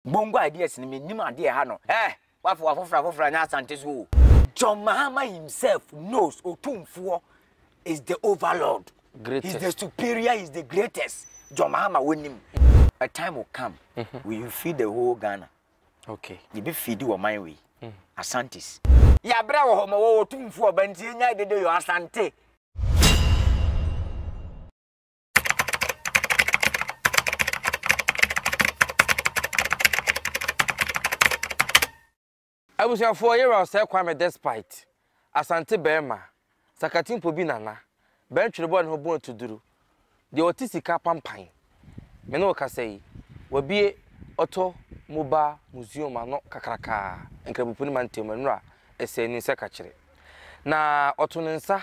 Bongo ideas no mennim adeɛ ɛha no eh Wafo afoforɔ afoforɔ anyɛ Asante so o. John Mahama himself knows Otumfoɔ is the overlord Greatest. He's the superior, he's the greatest John Mahama wonim A time will come we will feed the whole Ghana Okay. Yɛbɛ feed wɔ man wei mm. Asantes Yɛabrɛ wɔ hɔ ma wɔwɔ Otumfoɔ ba nti yɛnya dede yɔ Asante Abusuafoɔ yɛwura ɔsɛɛ kwame despite asante bɛɛma sakati mpo bi nana bɛn twere bɔ ne ho bɔn tu duru deɛ ɔte sika pampan me ne wo kasa yi wabie ɔtɔ moba museum ano kakrakaa nkrabupuni mantam nwura ɛsɛ ni nsɛ kakyere na ɔto ne nsa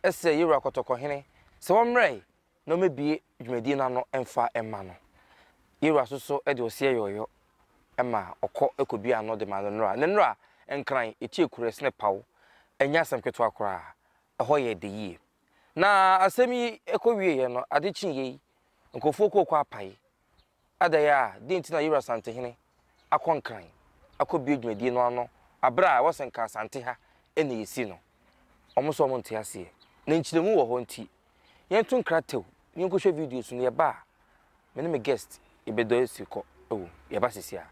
srɛɛ Yewura Kɔtɔkɔhene sɛ ɔmmrɛe na ɔmmɛbue dwumadie no ano mfa mma no. Yewura so so de ɔseɛ yɔɔyɔ ma ɔkɔ kɔdua ano de ma ne nora. Ne nora Nkran tie korɛ sene paw, ɛnyɛ asɛm ketewa koraa, ɛhɔ yɛ dɛ yie. Na asɛm yi kɔwieeɛ no, ade kyeeɛ yi, nkurɔfoɔ kɔɔ kɔapae Adɛn a dɛn nti na Yowura Santehene akɔ Nkran akɔbue dwumadie no ano aberɛ a ɛwɔ sɛ nka Asante ha na yɛsi no? Wɔn nso wɔn nte aseɛ na nkyerɛmu wɔ hɔ nti yɛnto nkra tɛw na yɛnkɔhwɛ videos no yɛba a me ne me guest yɛbɛdɔ asi kɔ wɔ mu. Yɛba sisi a.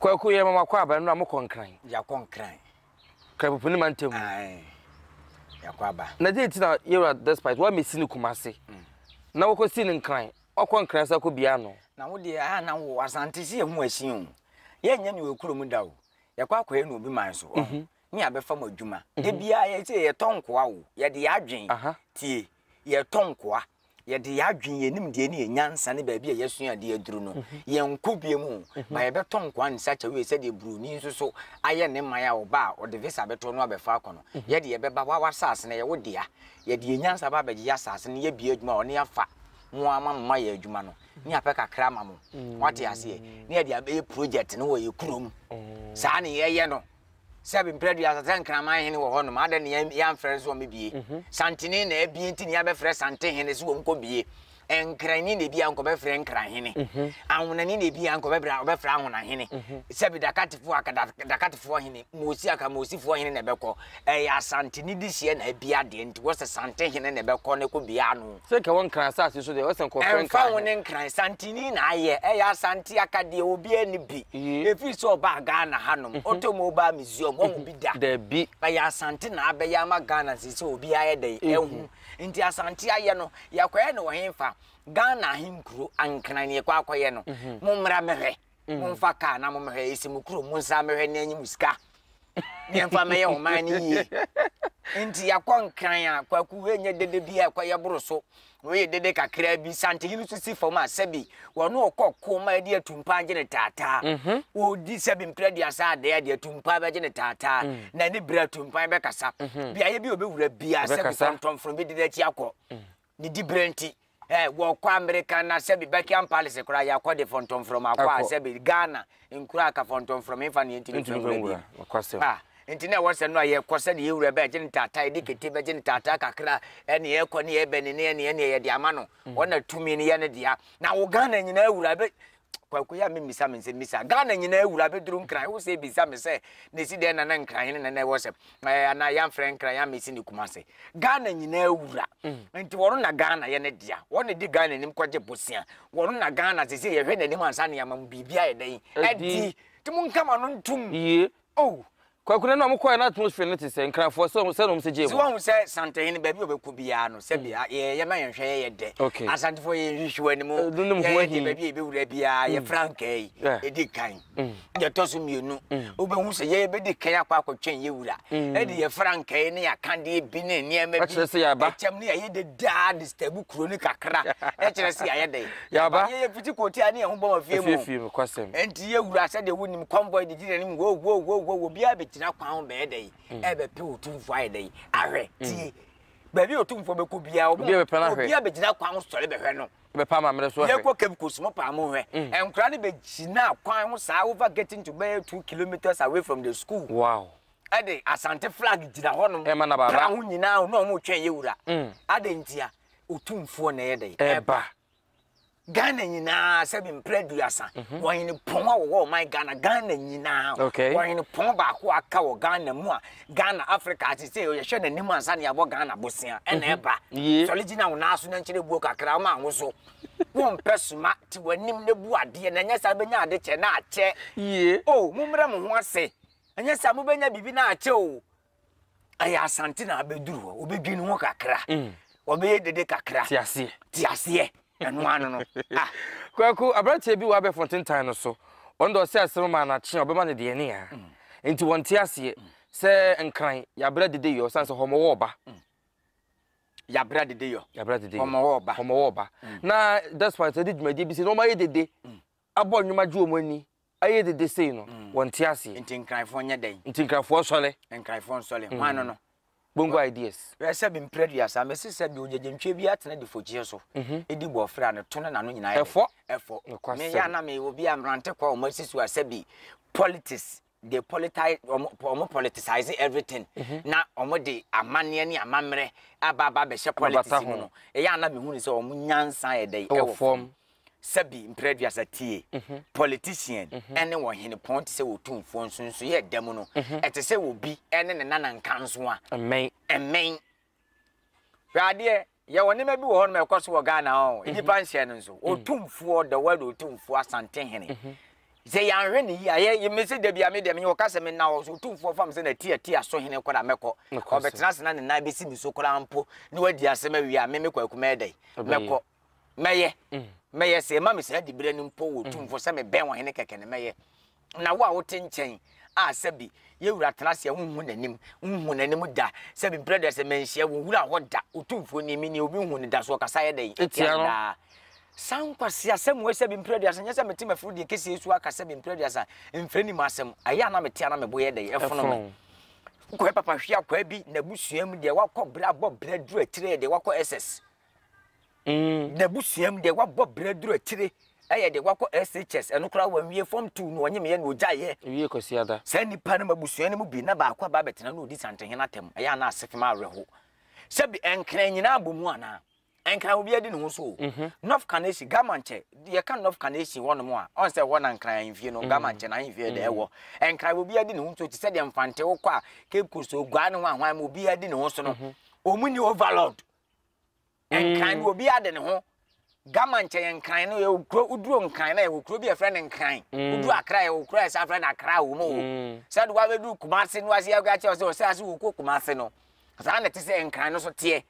kwaku yɛ mama kɔ aba nnura mo kɔ nkran. yakɔ nkran. krapopo ne ma ntɛm. yakɔ aba. na de ti na yɛwura despite wa mesi ne kuma ase mm. na wɔkɔ si ne nkran Ɔkɔ Nkrasɛ kɔ bia no. Na wo deɛ aa na wo Asante se yɛ ho asin o yɛ nyɛ ne wɔ kuro mu da o yɛ kɔ akɔyɛ no obi man so ɔho ne yɛ abɛfa mo adwuma da biaa yɛ se yɛ tɔ nkoa o yɛ de yɛ adwen tie yɛ tɔ nkoa yɛ de yɛ adwen yɛ nim deɛ ne yɛ nyansa ne baabi a yɛ sua adeɛ aduru no yɛ nkɔ bia mu o ba yɛ bɛ tɔ nkoa in such a way sɛ deɛ broni nso so ayɛ ne man a ɔba a ɔde visa bɛtɔ no abɛfa akɔ no yɛ de yɛ bɛba wa wa saase no yɛ wo dea yɛ de yɛ nyansa ba abɛgye yɛ asaase no yɛ bia adwuma ɔne afa mo ara ma mo ma yɛ adwuma no ne apɛ kakra ma mo wate aseɛ ne yɛde abɛyɛ project no wɔ yɛ kurom saa ne yɛyɛ no sɛ mprɛdua sɛ nkraman hene wɔ hɔnom adɛ ne yɛamfrɛ no so wɔn bie mhm. santene na abie nti ne yɛabɛfrɛ sante hene so wɔn kɔ bie nkranni na ebi a nkɔbɛfrɛ nkran hene mhm. ahonani na ebi a nkɔbɛfrɛ ɔbɛfrɛ ahona hene mhm. sɛbi dakatifoɔ aka dakatifoɔ hene moosi aka moosifoɔ hene na ɛbɛkɔ Ɛyɛ Asanteni dehyeɛ na abia deɛ nti wɔsɛ Sante hene na ɛbɛkɔ no kɔ bia no. Sɛ kɛ wɔ Nkran asase so deɛ wɔsɛ nkɔfrɛ Nkran hene. Ɛnfa ho ne Nkran, Santeni na ayɛ. Ɛyɛ Asante akadeɛ, obia nni bi. Ɛfiri sɛ ɔbaa Ghana ha nom, ɔtɔ Mobile Museum, wahu bi da? Dabi. Ɛyɛ Asante na abɛyɛ ama Ghana seisei obia ayɛ dɛn? Ahu. Nti Asante ayɛ no, yɛkɔyɛ no wɔ henfa? Ghana ahenkuro, Nkran, na yɛkɔ akɔyɛ no. Mommra mɛhwɛ. mm. momfa kaa na mommɛhwɛ ɛsi mo kurom monsa mmɛhwɛ ne anyi mo sika ne ɛmfa mmɛyɛ ɔman no yie nti yɛakɔ nkran a kwaku ɛnyɛ dede bi a ɛkɔyɛ boro so na ɔyɛ dede kakraa bi santehene nso si fam a sɛbi wɔne ɔkɔ ko ma ɛde atumpa agye ne taataa mhm. ɔdi sɛbi mprɛ aduasa adeɛ adeɛ atumpa bɛgye ne taataa mm. na ne berɛ atumpa bɛkasa mhm. beaeɛ bi ɔbɛwura bia sɛbi kɔntɔmfono bɛdi n'akyi akɔ mm. Ne diberɛ nti, ɛ, wɔkɔ Amerika na sɛbi Buckingham Palace koraa yɛakɔ de fɔntɔmfrɔm akɔ a, sɛbi Ghana nkuro aka fɔntɔmfrɔm mfa ne yɛntumi mfa nwura bi. Nokwasɛm. Ah, nti na ɛwɔ sɛ no a yɛkɔ sɛdeɛ yɛn wura bɛgye ntaataa, yɛde kete bɛgye ntaataa kakra, ɛne yɛkɔ ne yɛbɛne ne ɛne ɛne yɛde ama no, ɔna tumi no yɛ ne dea. Na wo Ghana nyinaa wura bɛ. kwaku yɛ a memmisa me nsɛm misa ghana nyinaa wura bɛduru nkran wo sɛ bisa me sɛ na ɛsi dɛn nana nkran hene nana ɛwɔ sɛm anaa yɛamfrɛ nkran yɛ mesi ne kuma se ghana nyinaa wura mm. nti wɔno na ghana yɛ ne dea wɔne di ghana anim kɔgye bosea wɔno na ghana sɛ sɛ yɛhwɛ n'anim ansa ne yɛama mu biribia yɛ dɛn adi nti monkama no ntom Oh! Kwaku na na ɔmo kɔɛ na atmosphere no te sɛ, Nkrafoɔ, sɛ ɔmo, sɛ na ɔmo se gyee mo. Nti wahu sɛ Santehene baabi a ɔbɛkɔ biara no sɛ bia yɛ yɛ ma yɛnhwɛ yɛ yɛ dɛ. Okay. Asantefoɔ yɛ nhwehwe wɔ anim. Eh, no ne mo ho Yɛ yɛ ahi. dɛ baabi a yɛbɛwura biara yɛ frankaa yi Yeah. ɛdi kan. Deɛ ɛtɔ so mmienu, wobɛhu sɛ yɛ yɛbɛdi kan akɔ akɔtwɛn yɛ wura. Ɛde yɛ frankaa yi ne yɛ akadeɛ bi ne nneɛma bi. Ɛkyerɛ sɛ yɛaba. Ɛkyɛm ne yɛayɛ dɛ daa disturb kuro no kakra. Ɛkyerɛ sɛ yɛayɛ dɛ. Yɛaba. Yɛyɛ piti kɔ tia ne yɛn ho bɔ ma fie mu. Efie fie mu kwasɛm. Enti yɛ wura sɛ deɛ wonim convoy de gyina anim wo wo wo wo obiara bɛgyina kwan ho bɛyɛ dɛn mm. ɛbɛpɛ otumfoɔ ayɛ dɛn ahwɛ mm. tie baabi otumfoɔ bɛkɔ biara obiara bɛgyina kwan ho sɔre bɛhwɛ no bɛpa ma mmerɛ so ahwɛ yɛkɔ cape coast mo paa mo hwɛ mm. nkora no bɛgyina kwan ho saa over getting to bɛyɛ two kilometers away from the school wow ɛde asante flag gyina hɔnom ɛma na baaba kra ho nyinaa ho na ɔmo twɛn yɛ wura adɛ ntia Otumfoɔ na ɛyɛ dɛn? Ɛreba. Ghana nyinaa sɛbi mpere aduasa mhm. wɔhene pɔn a wɔwɔ ɔman Ghana Ghana nyinaa wɔhene pɔn baako aka wɔ Ghana mu a Ghana Africa ase sɛ yɛhwɛ n'anim ansa ne yɛabɔ Ghana bosea ɛna mhm. ɛba sɔre gyina wo nan so na nkyerɛ buo kakra ma wo so wompɛ soma te w'anim na bu adeɛ na ɛnyɛ saa bɛnya ade kyɛ na akyɛ o mommrɛ mo ho ase ɛnyɛ saa mobɛnya biribi na akyɛ o ɛyɛ asante na abɛduru hɔ wɔbɛdwini ho kakra mm. wɔbɛyɛ dede kakra tiaseɛ tiaseɛ ɛno ano no ah. kwaku aberanteɛ bi wɔ abɛfo ntentan no so ɔno de ɔsɛ asɛm ma anakye a ɔbɛma no deɛ ne a mm. nti wɔnte aseɛ mm. sɛ nkran yɛabrɛ dede yɔ sane sɛ hɔmɔwɔ ɔba yɛabrɛ dede yɔ hɔmɔwɔ ɔba na despite sɛ de dwumadie bi sɛ na ɔmayɛ dede abɔ nnwoma gye wɔn ani ayɛ dede sei no, wɔnte aseɛ. Nti Nkraefoɔ nyɛ dɛn? Nti Nkraefoɔ nsɔre. Nkraefoɔ nsɔre. Hwan no no? Bongo ideas. Hwɛ sɛbe mprɛ duasa, mese sɛbe ogyegyentwie bi atena difogyeɛ so, ɛdi bɔɔfrɛ a, ne to ne n'ano nyinaa yɛ dɛn? Ɛfɔ. Ɛfɔ. Nokwasɛm. Meyɛ a na meyɛ obi a mmerante kwa a wɔasi so a sɛbe politics they politize wɔn wɔn politicize everything mhm. na wɔn de amanneɛ ne amammerɛ aba aba abɛhyɛ politics mu no ɛyɛ ana mehu ne sɛ wɔn nyansa yɛ dɛ ɛwɔ fam sɛbi mprɛduasa tie mhm. politician mhm. ɛne wɔn hene pɔn te sɛ wɔ tumfoɔ nso nso yɛ dɛm no ɛte sɛ obi ɛne ne nana nka nso a mmɛn mmɛn Hwɛ adeɛ, yɛwɔ nneɛma bi wɔ hɔ nom a ɛkɔ so wɔ Ghana hɔ, mhm. nnipa nhyɛ no nso. Mhm. Otumfoɔ, the word otumfoɔ, Asantehene. Mhm. Sɛ yɛanhwɛ ne yie a, yɛ me sɛ da bi a me deɛ menyɛ wɔka sɛ menna hɔ so otumfoɔ fam sɛ natiatia so hene koraa mɛkɔ. Ɔbɛtena ase na ne nan bɛsi me so koraa mpo na wadi asɛm awie a me mekɔ akumɛ dɛn mɛkɔ mɛyɛ mɛyɛ sɛ ɛma me saa diberɛ no mpo wɔ otumfoɔ sɛ mebɛn wɔ hene kɛkɛ no mɛyɛ Na wo a wote nkyɛn a sɛbe yɛn wura tena ase a wonhu n'anim, nhuu n'anim da, sɛbe mprɛ da sɛ manhyia wo wura hɔ da, Otumfoɔ nie, menie, obi nhu no da, so ɔkasa yɛ dɛn tia no daa? Saa nkwaseasɛm wei, sɛbe mprɛ duasa, nyɛ sɛ mete m'afiri deɛ kɛseɛ so aka sɛbe mprɛ duasa, mfrɛ nim asɛm, ɛyɛ a na mete a na me bo yɛ dɛn, ɛfono me. Wokɔyɛ papa hwee akwaa bi n'abusua mu deɛ, woakɔ bra bɔ bra duru akyire deɛ, woakɔ SS. N'abusua mu deɛ wabɔ bra aduru akyire yɛ deɛ wakɔ SHS, ɛno koraa wanwie Form Two na ɔnyemeeɛ na ɔgyaeɛ. Ɛwie Kwasiada. Saa nnipa nom abusua no mu bi na baako aba abɛtena na ɔdi Santehene atam. Ɛyɛ a na asefem awerɛho. Sɛbi ɛnkran nyinaa abɔ mu anaa? Nkran obiara di ne ho so o. North Kaneshie, Gamankyɛ, yɛka North Kaneshie hɔ nom a, ɔn sɛ ɛhɔ na Nkran ahemfie no, Gamankyɛ n'ahemfie da ɛwɔ. Nkran obiara di ne ho so te sɛ deɛ Mfante wokɔ a, Cape Coast, Oguaa ne hwan hwan ma obiara di ne ho so no, wɔn nni overlord. Nkran no obiara de ne ho gama nkyɛn nkran no yɛwɔ kuro woduro nkran na yɛwɔ kuro bi yɛfrɛ no nkran mm. woduro akra yɛwɔ kuro a yɛsa frɛ no akra wɔ mu o mm. sɛ de wabɛduru kumase no ase yɛka kyerɛ sɛ ɔsɛ ase wɔkɔ kumase no saa na te sɛ nkran no so teɛ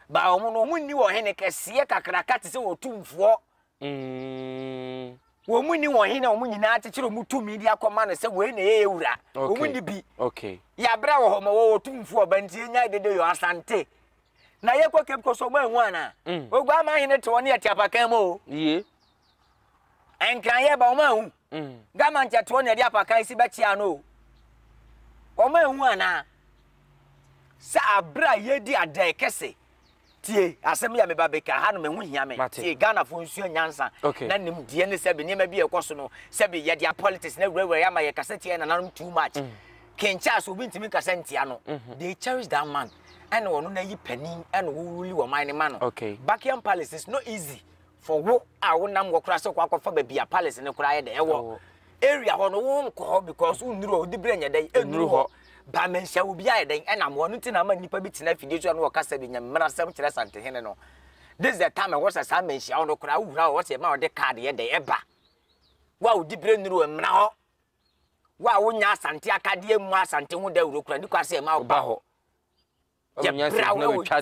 ba wɔn no wɔn nni wɔ hene kɛseɛ kakraka te sɛ wɔtumfoɔ Mm. Wɔn mu ni wɔn hene a wɔn nyinaa akyekyere wɔn tumi de akɔma no sɛ wei na ɛyɛ yɛn wura. Okay. Wɔn ni bi. Okay. Yɛabrɛ wɔ hɔ ma wɔwɔ tumfo ɔba nti yɛnya dede yɔ asante. Na yɛkɔ Cape Coast ɔmo anhu ana. Mm. Ogua ama hene te wɔn ne yɛte apakan mu o. Yie. Nkran yɛ ba ɔmo anhu. Mm. Gama nkyɛ te wɔn na yɛde apakan si bɛkyea no o. Ɔmo anhu ana. Sɛ abrɛ a yɛdi adɛɛ kɛse. Tie asɛm yi a meba bɛka ha no me ho hia me tie Ghanafoɔ nsua nyansa na nimdeɛ ne sɛbe nneɛma bi a ɛkɔ so no sɛbe yɛde a politics na wurawura yɛ ama yɛ kasa tia nananom too much mm. King Charles obi ntumi nkasa ntia no mm-hmm. they cherish that man ɛna ɔno na yi panin ɛna wɔwuli wɔn man ne ma no Buckingham Palace is not easy For wo a wo nam hɔ koraa sɛ kɔ akɔfa baabi a palace no koraa yɛ dɛ ɛwɔ area hɔ no wo nkɔ hɔ because wo nnuru hɔ wode berɛ nyɛ dɛn ɛnuru hɔ ba manhyia wo bi ayɛ dɛn ɛnam hɔ no nti na ama nnipa bi tena afidie so a no wɔkasa bi nyamena sɛm kyerɛ santehene no this the time ɛwɔ sɛ saa manhyia wo no koraa wo wura hɔ sɛ ɛma wɔde card yɛ dɛn ɛba wo a wode berɛ nnuru hɔ mmra hɔ wo a wonya asante akadeɛ mu asante ho dawuro koraa ne kɔ asɛ ɛma wo ba hɔ yɛbra wobɛtwa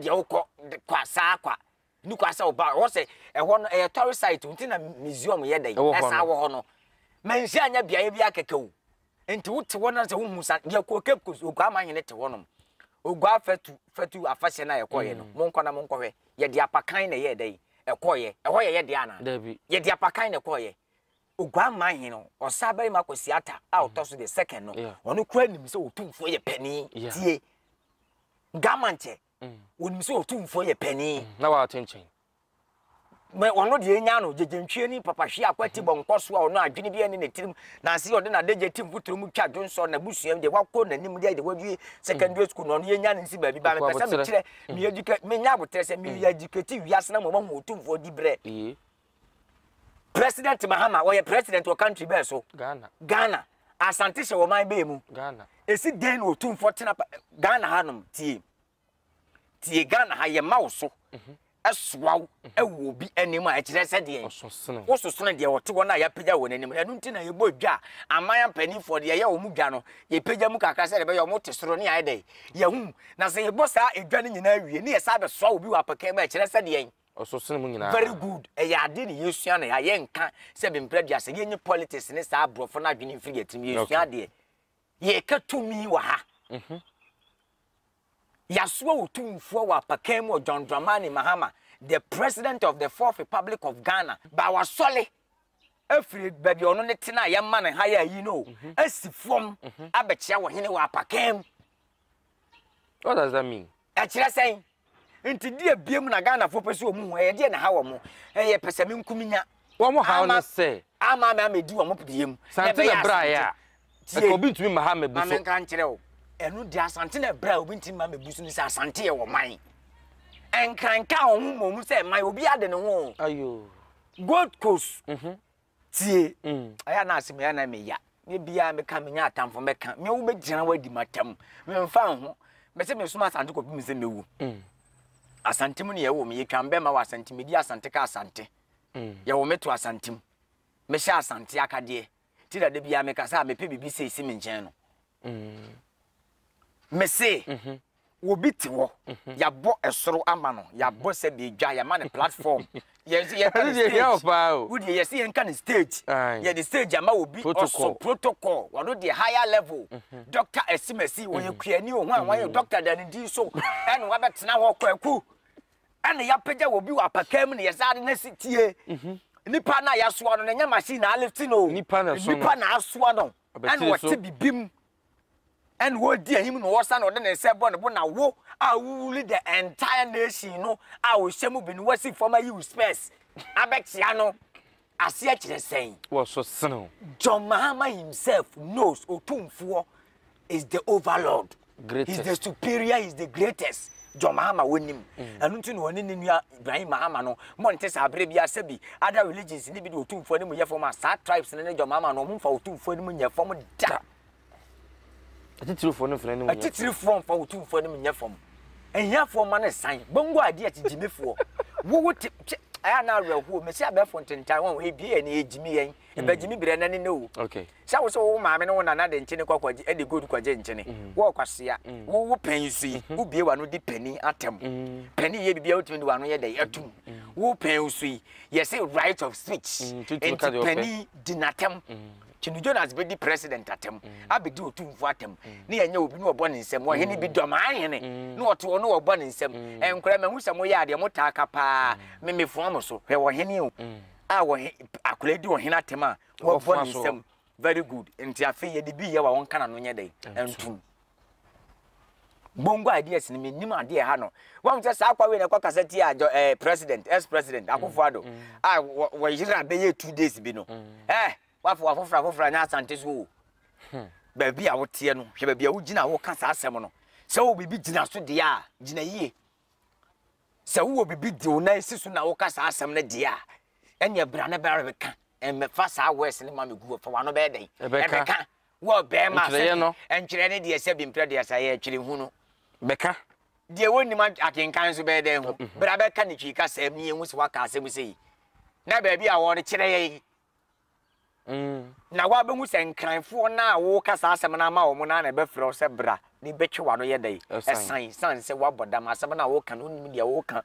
deɛ wokɔ kwa saa kwa ne kwa sɛ woba ɛwɔ sɛ ɛhɔ no ɛyɛ tɔre site nti na museum yɛ dɛ ɛsan wɔ hɔ no manhyia anya beaeɛ bi akɛkɛ o nti wote hɔ no sɛ wohu sa deɛ kɔ cape coast oguaa ma hene te hɔ nom oguaa fatu fatu afahyɛ no a yɛkɔeɛ no mm. monkɔ na monkɔhwɛ yɛde apakan na ɛyɛ dɛ ɛkɔeɛ ɛhɔ yɛyɛ deɛ anaa yɛde apakan na ɛkɔeɛ Oguammaa he no, ɔsaabarima Kwasi Atta a ɔtɔ so the second no, ɔno koraa nim sɛ Otumfoɔ yɛ panin. Tie! Gama nkyɛ, onim sɛ Otumfoɔ yɛ panin. Na waato nkyɛn. Mɛ ɔno deɛ enya no, gyegye ntwie ne papa hwe akɔ ati bɔ nkɔ so a ɔno adwene biara nni ne tirim. Nanse ɔde n'adagya ti mfuturo mu twa dwonsɔ na n'abusua mu deɛ wakɔ n'anim deɛ de wawie secondary school na ɔno yenya no nsi baabi. Ba mepɛ sɛ mekyerɛ, me educate, menya aboterɛ sɛ me educate wiase no ama wɔahu Otumfoɔ diberɛ. President Mahama ɔyɛ president wɔ country bɛɛ so? Ghana. Ghana. Asante hyɛ wɔ man bɛɛ mu? Ghana. Esi dɛn na otumfoɔ tena Ghana ha nom tie? Tie Ghana ha yɛ ma wo so. Mhm. Ɛsoa wo mhm. ɛwɔ obi anim a ɛkyerɛ sɛ deɛ wososono deɛ wɔte hɔ no a yɛapagya wɔn anim ɛno nti na yɛbɔ dwa aman mpanimfoɔ deɛ yɛyɛ wɔn dwa no yɛpagya mu kakra sɛ ɛbɛyɛ wɔn te soro ne ayɛ dɛ yɛhu na sɛ yɛbɔ saa edwa no nyinaa wie ne yɛ saa bɛsoa obi wɔ apɛkɛ mu a ɛkyerɛ sɛ deɛ Ɔso sen mu nyinaa. Very good ɛyɛ ade ne yɛsua na yɛayɛ nka sɛ bempra dua sɛ yɛnyi politics ne saa aborɔfo no adwene mfiri yɛn tirim yɛsua adeɛ yɛka tumi wɔ ha mhm. yɛasoa wɔ tumfoɔ wɔ apakan mu wɔ John Dramani Mahama the president of the fourth republic of Ghana ba wasɔle afiri baabi a ɔno ne tena a yɛma no ha yɛ ayi no mhm. asi fam mhm. abɛkyea wɔ hene wɔ apakan mu What does that mean? Ɛkyerɛ sɛn? Nti di abiem na Ghanafoɔ pɛ sɛ wɔn hu ɛyɛ deɛ na ha wɔn ɛyɛ pɛsɛmenkuminya. Wɔn haw no sɛ. Ama ama ama edi wɔn pɛdeɛ mu. Sante na bra yɛ a. Ɛka obi ntumi ma ha mɛbu so. Maame nka nkyerɛ o. Ɛnu di asante na bra obi ntumi ma mɛbu so ne sɛ asante yɛ wɔn man. Nkranka wɔn ho mɔ mu sɛ man obi ade ne ho. Ayo. Gold Coast. Mhm. tie. Ɛyɛ na asɛm yɛ na meya. Ne bia meka menya atamfo mɛka. Me wo bɛgyina wadi matam. Memfa ho. Mese mesoma asante kɔpem me sɛ mɛwu. Asante mu ne yɛwo me. Yɛtwa mbɛma wɔ asante. Medi asante ka asante. Yɛwo me to asante mu. Mehyɛ asante akadeɛ. Ti na da bia meka sɛ a mepɛ biribi sei si me nkyɛn no. Mese. Obi te hɔ, yɛabɔ soro ama no, yɛabɔ sɛ deɛ dwa, yɛama no platform. Yɛn nso yɛka no stage. Wo deɛ yɛsi yɛn ka no stage. Yɛde stage ama obi, ɔso protocol, wɔno deɛ higher level. Doctor Asimasi, ɔyɛ kuani o, hwan wɔn doctor da ne din so, ɛna wabɛtena hɔ kwaku. Ɛna yɛapagya wɔ bi wɔ apakan mu na yɛsan de no asi tie. Nipa no a yɛasoa no, na ɛnyɛ machine na alifti no o. Nipa na asoa no. Ɛna ɔte bibim. ɛna ɔdi anim na ɔsa na ɔde ne nsa bɔ ne bo na wo a wowuli the entire nation no a ɔhyɛ mu bi no wasi fam ayi wo spɛs abɛkyea no aseɛ kyerɛ sɛn wɔ so sene wo John Mahama himself knows Otumfoɔ is the overlord. Greatest. He's the superior, he's the greatest. John Mahama wonim. Mm. Ɛno nti na ɔne ne nua Ibrahim Mahama no mo nte saa bere biara sɛ bi other religions no bi de otumfoɔ anim yɛ fam a saa tribes no ne dwom ama no ɔmo mfa otumfoɔ anim nyɛ fam da atitirifoɔ no mfa anim nyɛ atitirifoɔ mfa otumfoɔ anim nyɛ fam ahiafoɔ ma no san bongo adeɛ te gyimifoɔ wowo te kyɛ ɛyɛ na awerɛhoɔ mesi abɛɛfo ntentan wɔn ebie yɛ ne egyimi yɛn ɛbɛ gyimi berɛ na ne ne o Sɛ wo so wo maame ne wo nana de nkyene kɔ kɔgye de gold kɔgye nkyene. Wɔ kwasea. Wo wo pɛn so yi. Wo bie w'ano di panin atam. Panin yɛ biribiara wotumi de w'ano yɛ dɛn atum. Wo pɛn so yi. Yɛse right of speech. Nti panin di n'atam. Kyene Jonas bɛdi president atam. Abɛdi otumfoɔ atam. Ne yɛnyɛ obi ne ɔbɔ ne nsam. Ɔhene bi dɔm ahene. Ne ɔte hɔ ne ɔbɔ ne nsam. Nkora mahu sɛ moyɛ adeɛ motaa ka paa. Me mefoa mo so. Hwɛ ɔhene o. A ɔhe akora di ɔhene atam a. Wɔbɔ ne nsam. Very good. Nti afei yɛde bi yɛ wa wɔnka n'ano nyɛ dɛn? Ntum. Bongo ideas no menim adeɛ ha no. Wɔn sɛ saa akwa wei na ɛkɔ kasa tia adjɔ ɛɛ eh, president ex president mm, akufo ado mm. a ah, wɔyere a bɛyɛ two days bi no. Mm. Ɛɛ wafo wafofra afofra nyɛ asante so o. Hmm. Baabi a woteɛ no hwɛ baabi a wogyina a woka saa asɛm no. Sɛ wo biribi gyina so deɛ a gyina yie. Sɛ wowɔ biribi di wo nan si so na woka saa asɛm no deɛ a, ɛneɛ bra na bɛyɛ bɛka mmɛfa saa wɛs no ma me gu fa wano bɛyɛ dɛn ɛbɛka wɔ bɛrima sɛ ɛntwerɛ ne deɛ sɛ bimprɛ deɛ sɛ yɛ twere hu no bɛka deɛ wɔnnim akenkan nso bɛyɛ dɛn ho bra bɛka ne twii ka sɛ mmienu sɛ waka asɛm sɛ yi na baabi a wɔde kyerɛ yɛ yi Na woabehu sɛ Nkranfoɔ no a woreka saa asɛm no ama wɔn no ara na ɛbɛfrɛ wo sɛ bra, na ebetwe w'ano yɛ dɛn? Ɛsan, esiane sɛ woabɔ dam, asɛm no a woreka no wonnim deɛ woreka.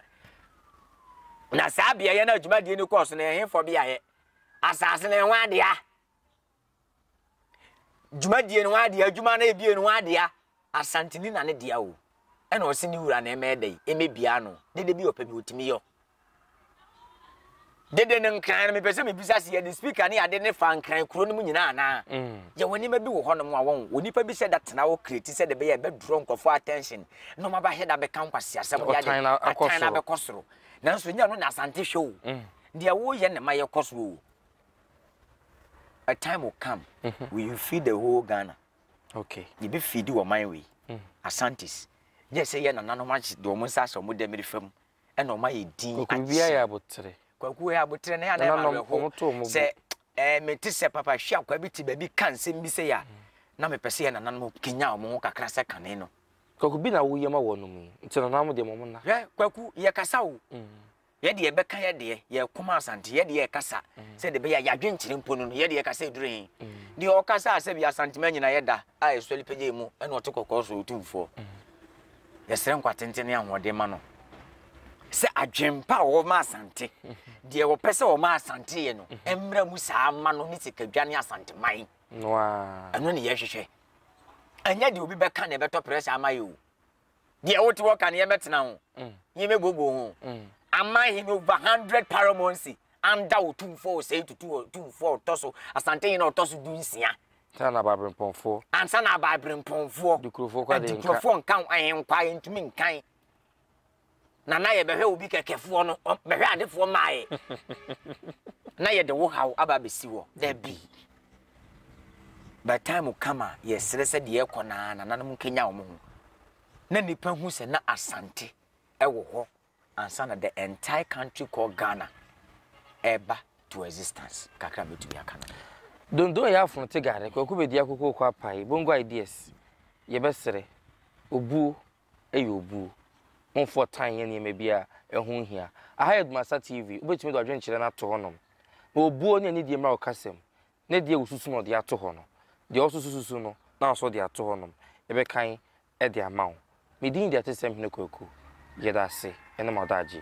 Na saa beaeɛ no a dwumadie no kɔɔ so no, ɛhefoɔ beaeɛ? Asase no ho adea, dwumadie no ho adea, adwuma no ebie no ho adea, Asanteni na ne dea o. Ɛna ɔse ne wura na ɛmɛ dɛn, ɛmɛ bia no, dede bi ɔpɛ bi otumi yɔ. dede no nkran no mepɛ sɛ mebisa sɛ yɛde speaker ne ade ne fa nkran kuro no mu nyinaa anaa mm. yɛwɔ nneɛma bi wɔ hɔnom a wɔn onipa bi sɛ da tena hɔ kreti sɛ de bɛyɛ ɛbɛdorɔ nkurɔfoɔ attention na ɔma bɛahɛ da bɛka nkwaseasɛm de ade atan na abɛkɔ soro nanso nyɛ no na asante hwɛ o mm. deɛ woyɛ ne ma yɛkɔ so o a time will come mm -hmm. we will feed the whole ghana okay yɛbɛ feed wɔ man wei mm. asantes yɛ sɛ yɛ nananom agye de wɔn nsa asɛ wɔn dɛmiri fam ɛna wɔn ayɛ din akyɛ. Kwaku bia yɛ abotere. Kwaku yɛ abotere na yɛ anam awɛho sɛ ɛɛ me te sɛ papa hwi akwa bi te baabi ka nsɛm bi sɛ ya mm. na mepɛ sɛ yɛ nananom kenya wɔn ho kakra sɛ kane no. Kwaku bi na woyɛ ma wɔn mu nti nananom deɛ wɔn na. Hwɛ kwaku yɛ kasa o. Mm. Yɛ deɛ bɛka yɛ deɛ yɛ kɔma asante yɛ deɛ kasa mm. sɛ de bɛyɛ yadwen kyerɛ mpo no yɛ deɛ kasa edure hin. Deɛ ɔkasa asɛ bi asante ma nyina yɛ da a ɛsɔre pɛgye mu ɛna ɔte kɔkɔɔ so otumfoɔ. Yɛsrɛ nkwa tenten ne ahoɔden ma no sɛ adwempa a wɔma Asante deɛ wɔpɛ sɛ wɔma Asante yɛ no mmra mu saa ma no ne sikadwa ne Asanteman. Ɛno ne yɛhwehwɛ. Ɛnyɛ deɛ obi bɛka na ɛbɛtɔ pressure ama yɛ o. Deɛ wote hɔ ka no yɛmɛtena ho. Mm. Yɛmɛbooboo ho. Mm. Ama hene over hundred paramonsi anda wo tumfoɔ ɔsɛe tutu tumfoɔ ɔtɔ so Asante hene ɔtɔ so du nsia Ansa na abaaberempɔnfoɔ. Ansa na abaaberempɔnfoɔ. Adikurofoɔ kɔ adeɛ nka. Adikurofoɔ nka ho ahenkwa a yɛntumi nkan. Na na yɛbɛhwɛ obi kɛkɛfoɔ no, bɛhwɛ adefoɔ maae. na yɛde wo haw aba abɛsi hɔ. Dabi. By time o come a, yɛsrɛ sɛ deɛ ɛkɔ naa nananom nkɛnya wɔn ho. Na nipa hu sɛ na Asante ɛwɔ hɔ. ansa na the entire country called Ghana ɛreba to existence. Kakra mɛtumi aka no. Dondo ɛyɛ afono te gare, kwaku bɛdi akoko kɔ apae, bongo ideas, yɛbɛsrɛ, obuo ɛyɛ obuo. Momfoɔ tan yɛ nneɛma bi a ɛho hia. Aha yɛ Dumasa TV, wobɛtumi de wadwenkyerɛ no ato hɔnom. Na obuo ne anidie mmra wo kasa mu. Ne deɛ wosusu na ɔde ato hɔ no, deɛ ɔsoso susu no na ɔso de ato hɔnom. Yɛbɛkan de ama wo. Me din de Atesɛm Hene Kwaku. Yɛda ase ne ma ɔda agye.